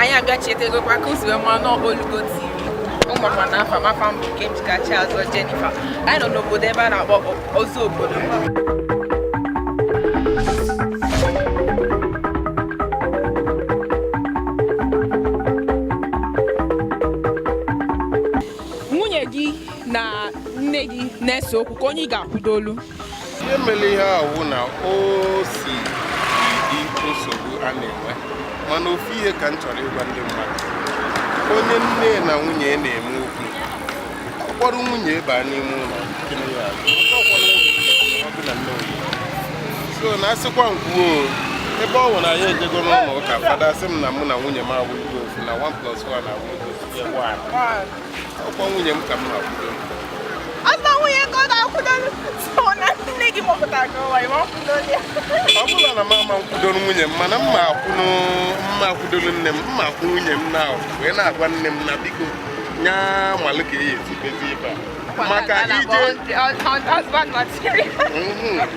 anyị abịa chetegokwa ka uziwe ma n'olugo tv ụmụakwa na afa m afa m bụ Nkemjikachi azọ Jennifer anyị nọ n'obodo ebe a na-akpọ ọzọ ọ bụrụ nwunye gị na nne gị na-ese okwu ka onye ị ga-akwụdolụ ihe mere ihe a wụ na o si dị nsogbu a na-enwe mana ofu ihe ka m chọrọ ịgwa ndị mmadụ onye nne na nwunye na-eme okwu ọ kpọrọ nwunye ya baa n'ime ụlọ so na a sịkwa m kwuo ebe ọ wụ na anyị ejego n'ụlọ ụka fada sị m na mụ na nwunye m awụlụgo ofu na 1 plus 1 awụlụgo ọ kwa nwunye m ka m na-akwụdo Azụta nwunye ka ọ ga-akwụdo ọ na nne gị mụpụtara gị ụwa ị ma-akwụdo ya. ọ bụrọ na m ama-akwụdoro nwunye m mana m ma-akwụnụ m ma-akwụdoro nne m m ma-akwụ nwunye m na wee na-agwa nne m na biko nya malụ ka eyi ezibezi ibe a maka ije Husband material. Mhm.